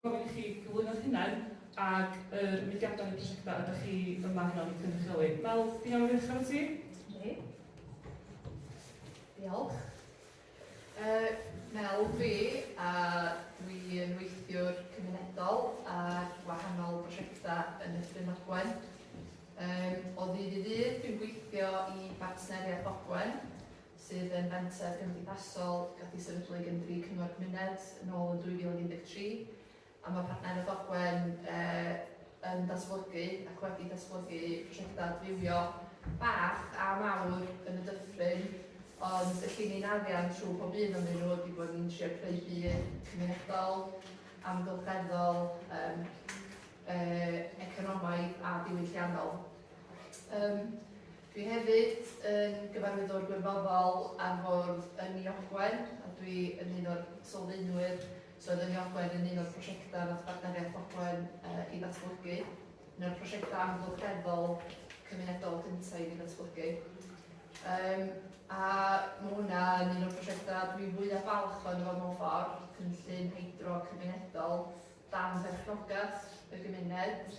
gofyn i chi gyflwyno'ch hunain ac yr mudiadau neu prosiectau ydych chi yma heno i cynrychioli. Mel, ti'n iawn i ddechrau efo ti? Yndi. Diolch. Uh, Mel fi, a dwi'n weithiwr cymunedol ar wahanol prosiectau yn y Ffrin Ogwen. Um, o ddydd i ddydd, dwi'n gweithio i bartneriaeth Ogwen, sydd yn fenter gymdeithasol gath ei sefydlu gan dri cyngor cymuned yn ôl yn 2013 a mae partneriaeth Ogwen eh, yn datblygu ac wedi datblygu prosiectau adfywio bach a mawr yn y dyffryn ond y ni'n arian trwy pob un o'n nhw wedi bod yn trio creu byd cymunedol, amgylcheddol, um, eh, economaidd a diwylliannol. Um, Dwi hefyd yn Gyfarwyddwr Gwirfoddol ar fwrdd Ynni Ogwen a dwi yn un o'r sylfaenwyr, so oedd Ynni Ogwen yn un o'r prosiectau wnaeth Bartneriaeth Ogwen ei ddatblygu, un o'r prosiectau amgylcheddol cymunedol cyntaf i fi ddatblygu. Um, a mae hwnna yn un o'r prosiectau dwi fwyaf falch o'n efo mewn ffordd, cynllun hydro cymunedol dan berchnogaeth y gymuned,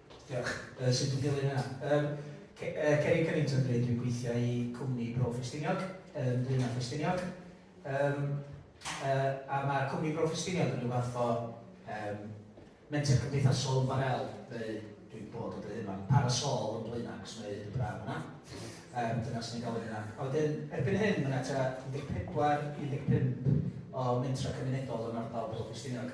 Diolch. Yy sut dwi'n dilyn hynna? Yym ce- yy Ceri Cunnington dwi, dwi'n gweithio i cwmni Bro Ffestiniog, yn Dwyna Ffestiniog. Yym yy a mae cwmni Bro Ffestiniog yn rhyw fath o yym menter cymdeithasol ymbarél, neu dwi'n bod yn dweud hyn rwan, parasol yn Dwyna, achos mae hyd yn braf yna. Yym dyna swn i'n galw hynna. A wedyn erbyn hyn mae 'na tua 14, 15 o mentrau cymunedol yn ardal Bro Ffestiniog.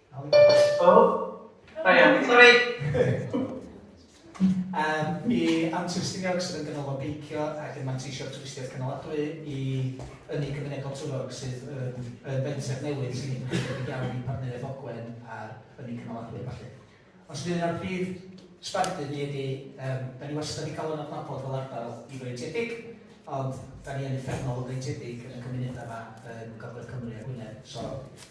Oh, da iawn. Sori! Yym, mi awn tu'r Stiniog sydd yn ganolog beicio ac yn manteisio'r twristiaeth cynaladwy i ynni cymunedol Twrog sydd yn yn fenter newydd sy'n edrych yn debyg iawn i Partneriaeth Ogwen a'r ynni cynaladwy a ballu. Os ydy hynna'r prif sbardun ni ydy, yym, da ni wastad wedi cael yn adnabod fel ardal ifreintiedig, ond da ni yn uffernol o freintiedig yn y cymunedau yma yn Gogledd Cymru a Gwynedd, so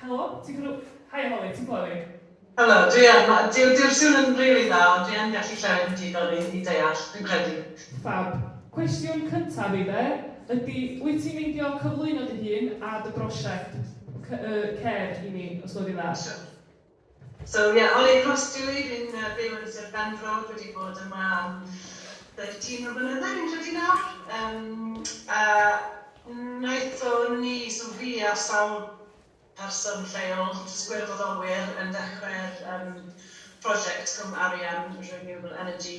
Helo, ti'n clw-? Hi Holly, ti'n clywed fi? Helo, dwi yn. Ma', dyw, dyw'r sŵn yn rili dda, ond dwi yn gallu clywed yn digon i, i deall, dwi'n credu. Ffab. Cwestiwn cyntaf i fe ydy, wyt ti'n meindio cyflwyno dy hun a dy brosiect, cy-, yy, cer i ni, os gweli dda? Siwr. So yeah, Ollie Cross dw i, fi'n byw yn Sir Benfro, dwi wedi bod yma am 13 o flynydde fi'n credu nawr, yym a wnaetho ni, so fi a sawl person lleol, jyst gwirfoddolwyr yn dechrau'r yym prosiect Cwm Arian Renewable Energy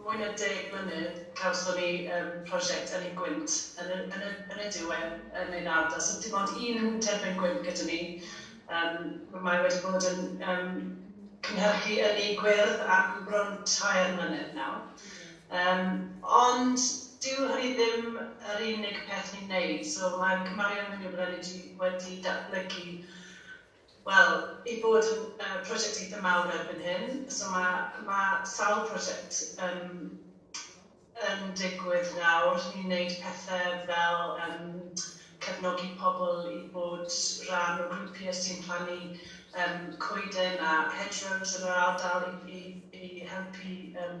Mwy na deg mlynedd cawson ni yym prosiect Ynni Gwynt yn y yn y yn y diwedd yn ein ardal. So dim ond un terfyn gwynt gyda ni. Yym ma' mae wedi bod yn yym cynhyrchu ynni gwyrdd am bron tair mlynedd nawr. Yym ond dyw hynny ddim yr unig peth ni'n neud. So mae cymarion hynny o bydden ni 'di wedi datblygu Wel, i fod yn yy prosiect eitha' mawr erbyn hyn, so ma' ma' sawl prosiect yn yn digwydd nawr. Ni'n wneud pethe fel yym cefnogi pobl i fod rhan o grwpiau sy'n plannu yym coeden a hedgerows yn yr ardal i i i helpu yym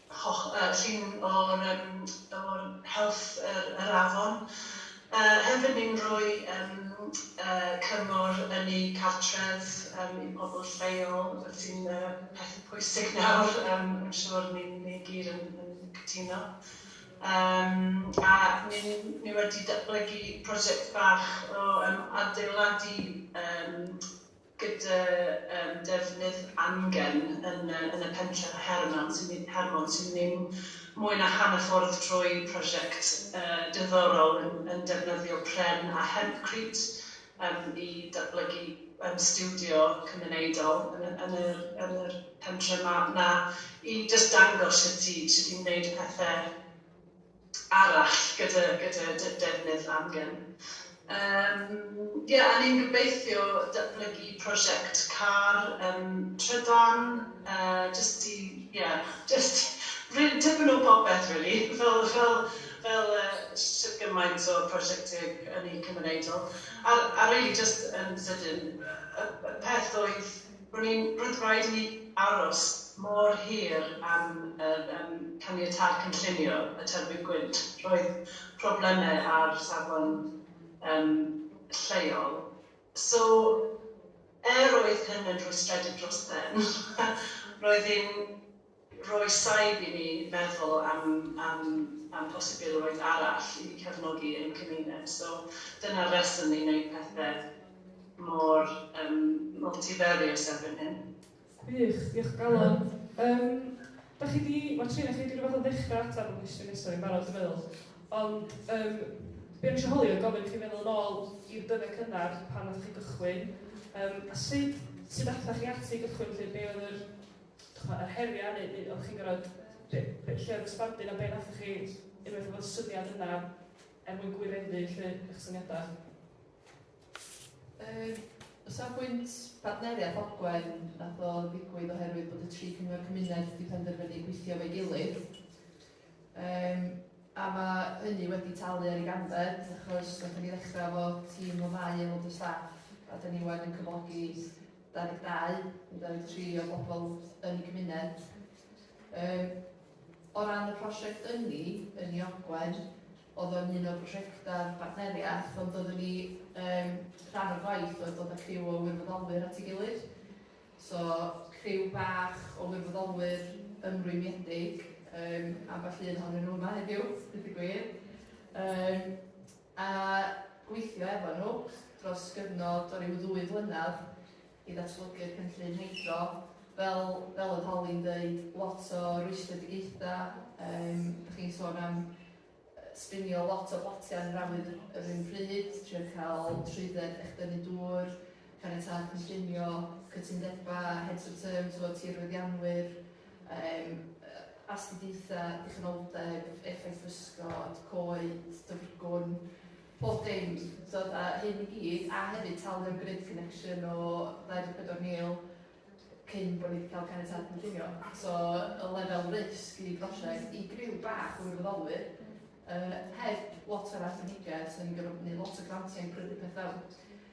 holl yy llun o'r yym o'r health yr yr afon. Yy hefyd ni'n rhoi yym yy cyngor yn eu cartref yym i'r pobl lleol fel sy'n yy peth pwysig nawr yym yn siŵr ni'n ni gyd yn yn cytuno. Yym a ni'n ni wedi datblygu prosiect bach o yym adeiladu yym gyda yym defnydd amgen yn y yn y pentref a Hermon sy'n my- Hermon sy'n mynd mwy na hanner ffordd trwy prosiect yy diddorol yn yn defnyddio pren a hempcrete yym i datblygu yym stiwdio cymunedol yn y yn yr yn yr pentre 'ma 'na i jyst dangos sut i sut i wneud y pethe arall gyda gyda dy defnydd amgen. Yym ie a ni'n gobeithio datblygu prosiect car yym trydan yy jyst i ie jyst rili tipyn o popeth rili fel fel fel yy shwt gymaint o prosiecte yn y cymunedol a a rili jyst yn sydyn yy y y peth oedd Ro'n i'n brydwraig i aros mor hir am yym caniatâd cynllunio y terfyn gwynt. Roedd problemau ar safon yym lleol. So, er oedd hyn yn rhwystredig dros ben, roedd hi'n roi saib i ni feddwl am am am posibilrwydd arall i cefnogi ein cymuned. So dyna'r reswm ni'n wneud pethe mor um, multifarious erbyn hyn. Wych, diolch galon. Um, da chi di, mae Trina chi wedi rhywbeth o ddechrau ateb y cwestiwn nesaf i'n barod, dwi'n meddwl. Ond um, be o'n eisiau holi oedd gofyn i chi feddwl yn ôl i'r dyddiau cynnar pan nath chi gychwyn, um, a sut, sut athoch chi ati gychwyn lle, be oedd yr chimod, yr heriau neu neu o'ch chi'n gorfod... be be lle oedd y sbardun a be wnaethoch chi unwaith oedd y syniad yna er mwyn gwireddu 'lly eich syniadau? Yym, o safbwynt partneriaeth Ogwen, wnaeth o ddigwydd oherwydd bod y tri cyngor cymuned 'di penderfynu gweithio efo'i gilydd. Yym, a ma' hynny wedi talu ar ei ganfed achos wnaethon ni ddechrau efo tîm o ddau aelod o staff a 'da ni 'wan yn cyflogi 22 i 23 o bobl yn y gymuned. Um, o ran y prosiect ynni yn ei ogwen, oedd o'n un o brosiectau'r bartneriaeth, ond oeddwn ni um, rhan o'r gwaith oedd dod â criw o wirfoddolwyr at ei gilydd. So, criw bach o wirfoddolwyr ymrwymiedig, um, a falle un ohonyn nhw yma heddiw, bydd y gwir. Um, a gweithio efo nhw dros gyfnod o ryw ddwy flynedd i ddatblygu'r cynllun hydro. Fel fel oedd Holly'n dweud, lot o rwystredigaethau, um, da chi'n sôn am sbinio lot o botiau yn yr awyr yr un pryd, trio cael trwydded eich dynnu dŵr, caniatad cynllunio, cytundebau, heads of terms o tirwyddianwyr, Yym, astudiaethau, dichonoldeb, effaith bysgod, coed, dyfrgwn, pob dim, so fatha hyn i gyd, a hefyd talu am grid connection o 24,000 cyn bod ni 'di cael caniatâd cynllunio. So, y lefel risg i brosiect, i griw bach o wirfoddolwyr, yy, heb lot o'r arbenigedd, 'sen ni'n gorfod gwneud lot o grantiau i brynu peth fewn.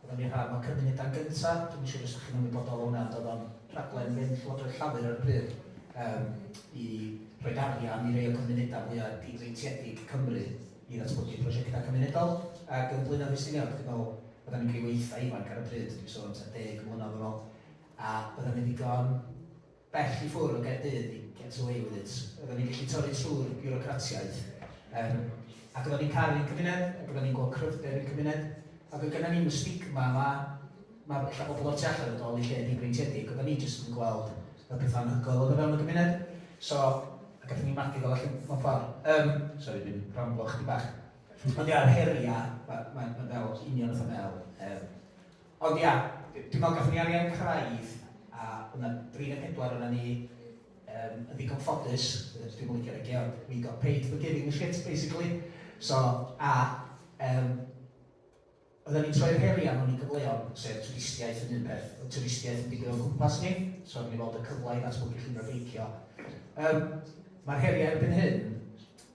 Oeddan ni rhan o Cymunedau Gynta', dwi'm yn siŵr os 'da chi'n ymwybodol o hwnna, ond oedd o'n rhaglen fynd Llywodraeth Llafur ar y pryd yym i roid arian i rei o gymunedau mwya' difreintiedig Cymru i ddatblygu prosiectau cymunedol ac yn Blaenau Ffestiniog, dwi'n meddwl oeddan ni'n rhyw eitha' ifanc ar y pryd, dwi'n sôn am tua deg mlynedd yn ôl, a oeddan ni'n ddigon bell i ffwr o Gaerdydd i get away with it. Oedden ni'n gallu torri trwy'r biwrocratiaeth. Um, ac oedden ni'n caru'n cymuned, ac oedden ni'n gweld cryfder i'r cymuned, ac oedd gyda ni'n y stigma yma, mae lle bobl o'r tu allan yn dod i lle dibreintiedig, oedden ni jyst yn gweld y pethau'n hygol oedd o fewn y gymuned. So, ac oedden ni'n magu fel allan mewn ffordd. Um, sorry, dwi'n ramblo chdi bach. Ond ia'r heriau, mae'n ma, ma fel union oedd y fel, um, Ond ia, dwi me'wl gathon ni arian craidd a o' 'na dri ne' pedwar ona ni yym yn ddigon ffodus, dwi'm yn licio roi geg, we got paid for giving a shit basically, so a yym oddan ni'n troi'r heriau mewn i gyfleon, sef twristiaeth yn un peth, o'dd twristiaeth yn digwydd o'n cwmpas ni, so oddan ni'n weld y cyfle i ddatblygu llwybrau beicio. Yym ma'r heriau erbyn hyn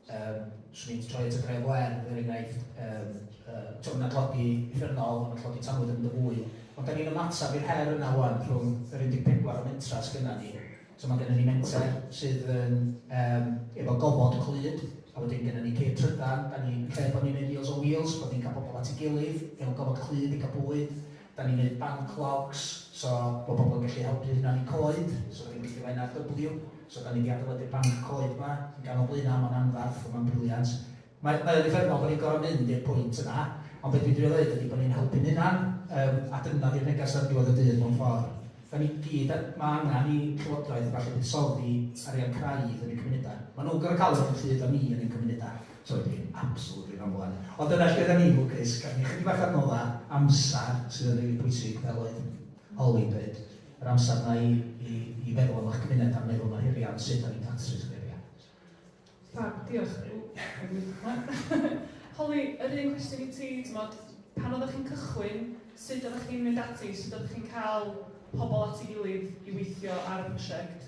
Yym, 'swn i'n troi at y Dref Werdd, er enghraifft, yym, yy, t'o' ma' 'na dlodi rhyngol, ma' 'na dlodi tanwydd yn mynd yn fwy, ond 'dan ni'n ymateb i'r her yna ŵan rhwng yr 14 o mentrau sy gynna ni. So ma' gynna ni menter sydd yn yym efo gofod Clyd, a wedyn gynna ni ceir trydan, 'dan ni yn lle bo' ni'n wneud Meals on Wheels, bod ni'n cael pobl at ei gilydd mewn gofod Clyd i gael bwyd, Dan ni'n neud banc logs, so bod pobl yn gallu helpu hynna yn eu coed, so dan ni'n gweithio efo NRW, so dan ni di adelydu'r banc coed ma, yn ganol Blaena, ma'n anfarth, ond ma'n briliant. Mae mae o'n uffernol bo ni'n gor'o mynd i'r pwynt yna, ond be dwi'n drio ddeud ydi bo ni'n helpu'n hunan, yym a dyna di'r neges ar ddiwedd y dydd mewn ffor. Dan ni gyd a- ma' angan i Llywodraeth a ballu buddsoddi arian craidd yn ein cymuneda. Ma nhw'n gor'o ca'l y run pryd a ni yn ein cymuneda. Doedd dim absolute ddim am ŵan. Ond dyna lle 'da ni lwcus, gaf ni ychydig bach o adnodda amsar sydd yn rili bwysig fel oedd Holly'n deud, yr amsar 'na i i i feddwl am eich cymuned a meddwl am yr heriau ond sut 'da ni'n datrys yr heriau. Fab, diolch. Holly, yr un cwestiwn i ti, t'mod, pan oeddech chi'n cychwyn, sut oeddech chi'n mynd ati, sut oeddech chi'n cael pobl at ei gilydd i weithio ar y prosiect?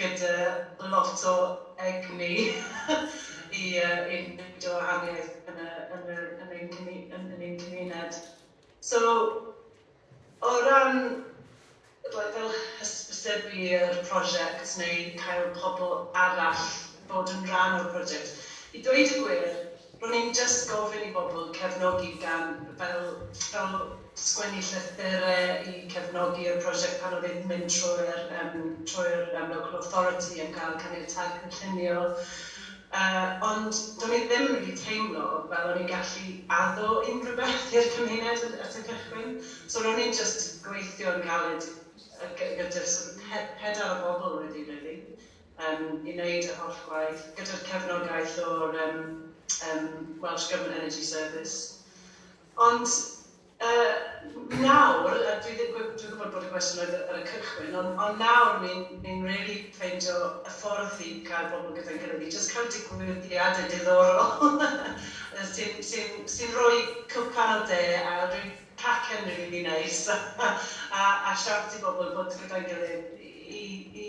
gyda lot o egni i wneud y wahaniaeth yn ein cymuned. So, o ran fel hysbysebu ar y prosiect neu cael pobl arall i fod yn rhan o'r prosiect, i ddweud y gwir, ro'n i'n jyst gofyn i bobl cefnogi gan fel fel sgwennu llythyrau i cefnogi'r prosiect pan oedd e'n mynd trwy'r yym trwy'r yym local authority am gael caniatâd cynllunio. Yy ond do'n i ddim rili teimlo fel o'n i'n gallu addo unrhyw beth i'r cymuned at at y cychwyn. So ro'n i'n jyst gweithio yn galed yy gy- gyda'r sort of pe- pedair o bobl oedd hi rili yym i wneud y holl gwaith gyda'r cefnogaeth o'r yym yym Welsh Government Energy Service. Ond yy nawr, a dwi ddim gw- dwi'n gwybod bod y gwestiwn oedd ar y cychwyn, ond ond nawr ni'n ni'n rili ffeindio y ffordd i cael pobl gyda'n gilydd, i jyst cael digwyddiadau diddorol yy sy'n sy'n sy'n rhoi cwpan o de a ryw cacen rili neis a a a siawns i bobl fod gyda'n gilydd i i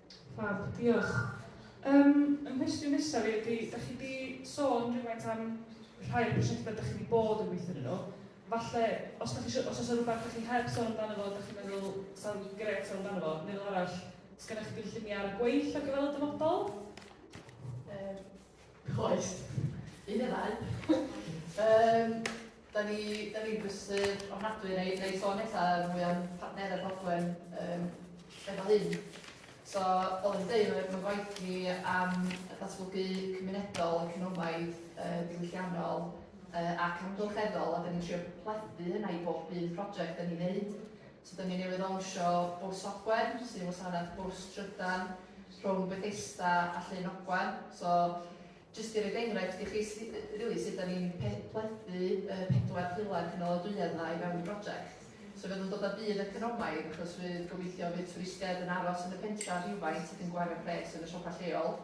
Fab, diolch. Yym, fy nghwestiwn nesaf i ydy, dach chi wedi sôn rhywfaint am rhai o'r prosiectau dach chi wedi bod yn gweithio arnyn nhw. Falle, os dach chi isio, os oes 'na rywbeth dach chi heb sôn amdano fo, dach chi'n meddwl 'sa fo'n grêt sôn amdano fo, neu fel arall, oes gennych chi gynlluniau ar y gweill ar gyfer y dyfodol? Yym. Oes. Un neu ddau. um, da ni, da ni'n brysur ofnadwy neu, neu sôn eto ar mwy o'n partnerau Bodwen um, efo hyn. So, fel yn dweud, mae gwaith ni am datblygu cymunedol, economaidd, uh, diwylliannol uh, ac amgylcheddol, a da ni'n trio plethu hynna i bob un prosiect da ni'n neud. So dan ni newydd lawnsio Bws Ogwen, sy'n wasanaeth bws trydan rhwng Bethesda a Llyn Ogwen. So jyst i roed enghraifft i chi sut rili sut dan ni'n pe- plethu y pedwar pilar cynaladwyedd yna i fewn y brosiect. So fydd o'n dod â budd economaidd achos fydd gobeithio fydd twristiaid yn aros yn y pentref rhywfaint ac yn gwario pres yn y siopa lleol.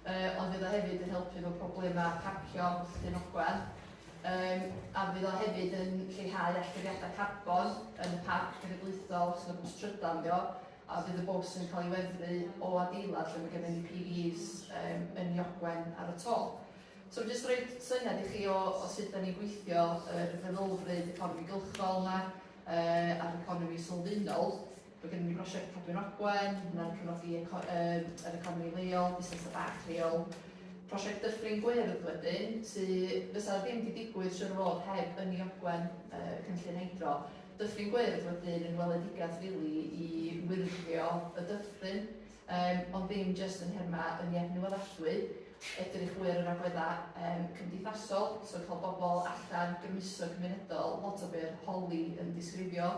Yy ond fydd o hefyd yn helpu efo problemau parcio Llyn Ogwen. Yym a fydd o hefyd yn lleihau allyriadau carbon yn y parc cenedlaethol achos mae bws trydan dio a bydd y bws yn cael ei weddru o adeilad lle mae gennym ni PVs um, yn Iogwen ar y to. So mae'n jyst rhoi syniad i chi o, o sut da ni'n gweithio yr feddylfryd economi gylchol yma uh, a'r economi sylfaenol. Mae gennym ni brosiect Cadwyn Ogwen, mae hwnna'n cefnogi yr economi leol, busnesau bach lleol. Prosiect Dyffryn Gwyrdd wedyn, sydd fysa ddim wedi digwydd siwr o fod heb Ynni Ogwen, cynllun hydro. Dyffryn Gwyrdd wedyn yn weledigaeth rili i wyrdddio y dyffryn, ond ddim jyst yn nhermau ynni adnewyddadwy, edrych fwy ar yr agweddau cymdeithasol, so cael bobl allan, grymuso cymunedol, lot o be oedd Holly yn disgrifio.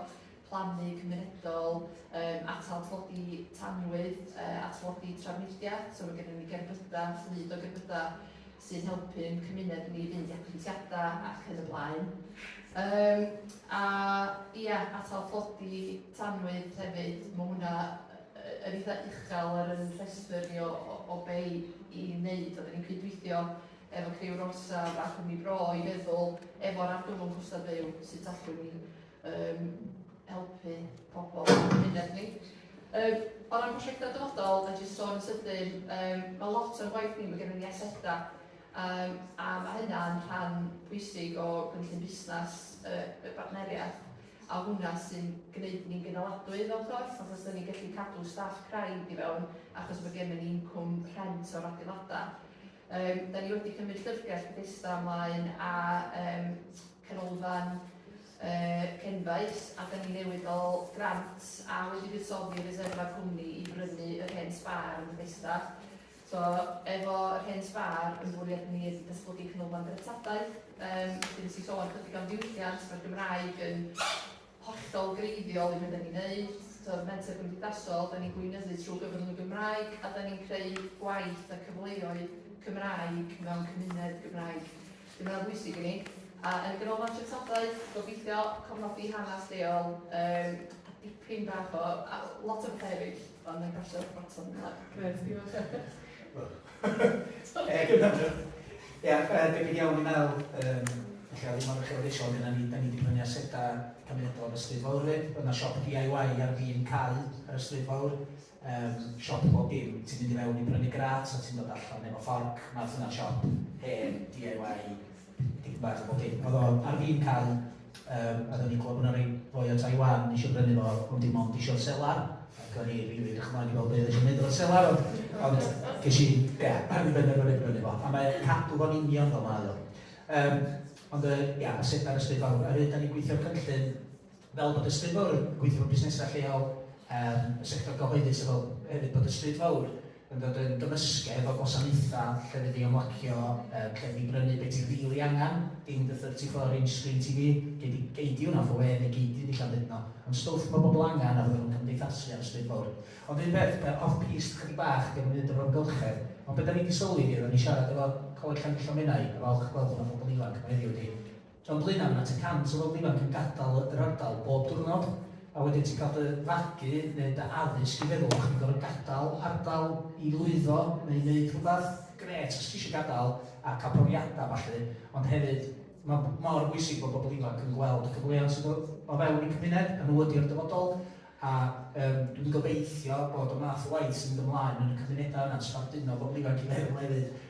plannu cymunedol, yym atal tlodi tanwydd, yy a tlodi trafnidiaeth, so mae gennym ni gerbydau, fflyd o gerbydau sy'n helpu ein cymuned ni i fynd i apwyntiadau ac yn y blaen. Um, a ia, atal tlodi tanwydd hefyd, mae hwnna yn eitha uchel ar yn rhestr ni o, o, o be i wneud. Oedden ni'n cydweithio efo Criw Rosa a Chwmni Bro i feddwl efo'r argyfwng costau byw sydd allwn ni um, helpu pobl yn cymuned ni. Um, o ran prosiectau dyfodol, a jyst sôn sydyn, um, mae lot o'r gwaith ni, mae gennym ni asedau, um, a mae hynna'n rhan pwysig o gynllun busnes uh, y bartneriaeth, a hwnna sy'n gwneud ni'n gynaladwy fel corff, achos dyn ni'n gallu cadw staff craidd i fewn, achos mae gennym ni incwm rhent o'r adeiladau. Um, da ni wedi cymryd llyfrgell Bethesda ymlaen a um, Canolfan y Cenfaes a dan ni newydd gael grant a wedi buddsoddi reserfa'r cwmni i brynu yr hen sbâr yn Bethesda. So, efo yr hen sbâr, yn fwriad ni ydy datblygu canolfan dreftadaeth. Yym, felly nes i sôn chydig am ddiwylliant, mae'r Gymraeg yn hollol greiddiol i be 'da ni'n neud. T'od Menter Cymdeithasol, 'da ni'n gweinyddu trwy gyfrwng y Gymraeg a 'da ni'n creu gwaith a cyfleoedd Cymraeg mewn cymuned Gymraeg. Felly ma' hwnna'n bwysig i ni. A yn y Ganolfan Treftadaeth, gobeithio cofnodi hanes lleol, um, a dipyn bach o, a lot o bethau eraill, ond na i'n pasio baton ymlaen. Grêt, diolch. Stop digon am hynna. Ia, debyg iawn i Mel, yym, ella ddim mor uchelgeisiol ag yna ni, da ni di prynu aseda cymunedol yn y Stryd Fawr fyd, oedd na siop DIY ar fin cau ar y Stryd Fawr, um, siop bob dim, ti'n mynd i fewn i brynu grat a ti'n dod allan efo fforc, math yna siop, hen, DIY, Dim bach o bob dim. Oedd o ar fin cau, yym, a do'n i'n clywed bod 'na rei boi o Taiwan yn isio brynu fo, ond dim ond isio'r selar, ac o'n i rili edrych ymlaen i weld be oedd isio wneud efo'r selar, ond, ond ges i, ia, ar ben ar ôl brynu fo, a mae cadw fo'n union fel mae o. Yym, ond yy, ia, y selar ysbryd fawr. Oherwydd, da ni'n gweithio cynllun, Fel bod y Stryd Fawr yn gweithio mewn busnesau lleol, er y sector gyhoeddus a fel hefyd bod y Stryd Fawr yn dod yn gymysgedd o gwasanaethau lle fydd i ymlacio, lle fydd i brynu beth ti rili really angen, dim dy 34 inch screen TV, gei di, gei di hwnna for we neu gei di ddillan byd yno, ond stwff mae bobl angen a fydden nhw'n cymdeithasu ar y Stryd Fawr. Ond un peth, uh, off piste chydig bach, dim yn mynd o'r amgylchedd, ond beth da ni wedi sylwi ydy, oedden ni siarad efo Coleg Llanfillo Menai, a falch gweld bod yna phobl ifanc yma heddiw ydy, Tra bod hynna, mae 'na tua 100 o bobl ifanc yn gadael yr ardal bob diwrnod, a wedyn ti'n cael dy fagu neu dy addysg i feddwl bod chdi'n gorfod gadael ardal i lwyddo neu wneud rhywbeth grêt os ti eisiau gadael a cael profiadau a ballu, ond hefyd mae mor bwysig bod pobl ifanc yn gweld y cyfleoedd sydd o, o fewn y cymuned, a nhw ydy'r dyfodol, a um, dwi wedi gobeithio bod y math o waith sy'n mynd ymlaen yn y cymunedau yna, sbarduno pobl ifanc i feddwl hefyd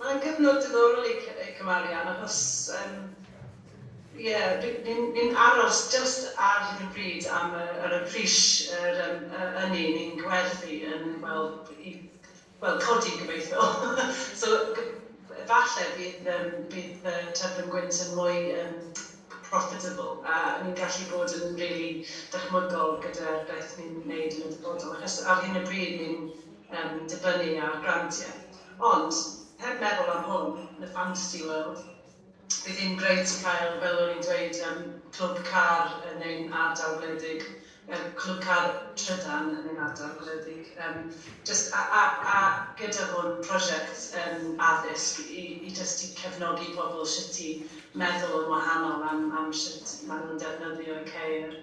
Mae'n gyfnod diddorol i y cymarian achos yym ie ni'n ni'n aros jyst ar hyn o bryd am y yr y pris yr yym y ynni ni'n gwerthu yn wel i wel codi gobeithio so g- falle bydd yym bydd yy Tyddyn Gwynt yn mwy yym profitable a ni'n gallu bod yn rili dychmygol gyda'r beth ni'n neud yn y dyfodol achos ar hyn o bryd ni'n yym dibynnu ar grantie. Ond, heb meddwl am hwn, yn y fantasy world, bydd hi'n grêt cael, fel o'n i'n dweud, yym, clwb car yn ein ardal gwledig, yy clwb car trydan yn ein ardal gwledig, yym, jyst a a a gyda hwn, prosiect yym addysg i i jyst i cefnogi pobl shwt i meddwl yn wahanol am am shwt ma' nhw'n defnyddio'u ceir.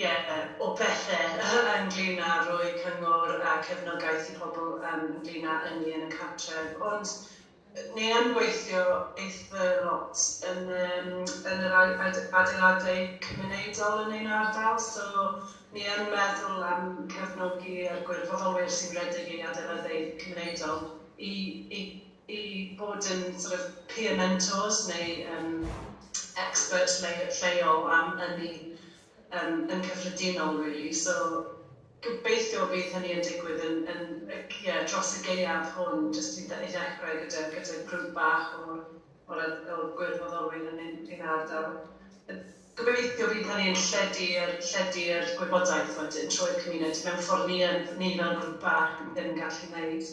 Ie, o bethe ynglŷn â rhoi cyngor a cefnogaeth i pobl ynglŷn â ynni yn y cartref. Ond ni yn gweithio eitha lot yn yr adeiladau cymunedol yn ein ardal. So, ni yn meddwl am cefnogi a'r gwirfoddolwyr sy'n rhedeg ei adeiladau cymunedol i i bod yn sort of peer mentors neu yym expert lleo- lleol am ynni yym yn cyffredinol rili. So gobeithio bydd hynny yn digwydd yn yn yy ie dros y gaeaf hwn jyst i dde- i ddechrau gyda gyda grŵp bach o o'r yy o gwirfoddolwyr yn ein ein ardal. Yy gobeithio bydd hynny yn lledu yr lledu yr gwybodaeth wedyn trwy'r cymuned mewn ffordd ni yn ni fel grŵp bach ddim yn gallu neud.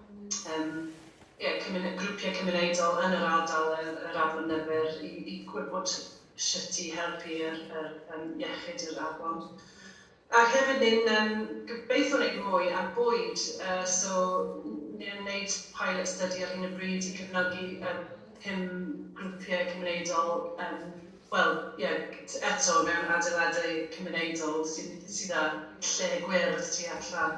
Yym ie cymyn- grwpiau cymunedol yn yr ardal yr yr afon Nyfyr i i gwybod shwt i helpu yr yr yym iechyd yr afon. Ac hefyd ni'n yym gobeitho wneud mwy ar bwyd yy so n- ni'n wneud pilot study ar hyn o bryd i cefnogi yy pum grwpiau cymunedol yym wel ie t- eto mewn adeiladau cymunedol sy'n sydd â lle gwyrdd tu allan.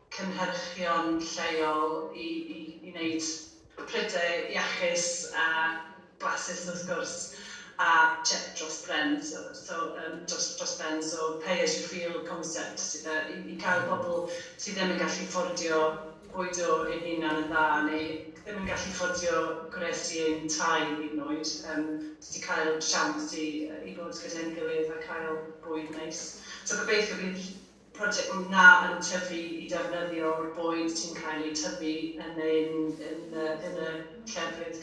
cynhyrchion lleol i i i wneud prydau iachus a blasus wrth gwrs a check dros bren so so yym dros dros ben so pay as you feel concept sydd yy i i cael pobl sydd ddim yn gallu fforddio bwydo eu hunan yn dda neu ddim yn gallu fforddio gwres i ein tai hyd yn oed yym jyst i cael siawns i yy i fod gyda'n gilydd a cael bwyd neis so gobeithio bydd project mwynha yn tyfu i defnyddio'r bwyd sy'n cael eu tyfu yn ein yn y llefydd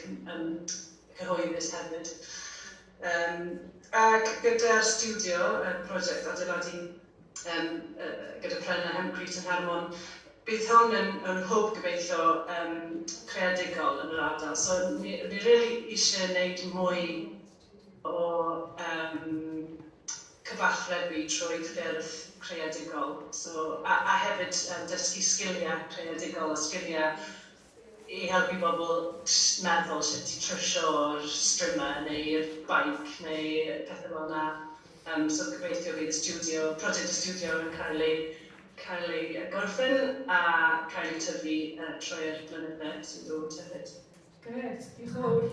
cyhoeddus hefyd. Yym ac gyda'r stiwdio, y project adeiladu yym gyda pren a Hempcrete yn Hermon, bydd hwn yn yn hwb gobeithio yym creadigol yn yr ardal. So ni ni rili isie neud mwy o yym cyfathrebu trwy ffyrdd creadigol so a a hefyd yym dysgu sgilia creadigol a sgilia i helpu bobl jyst meddwl sut i trwsio'r strimau neu'r bike neu pethe fel 'na yym so gobeithio bydd y stiwdio, project y stiwdio yn cael ei cael ei yy gorffen a cael ei tyfu yy trwy'r blynydde sy'n dod hefyd. Grêt, diolch yn fawr.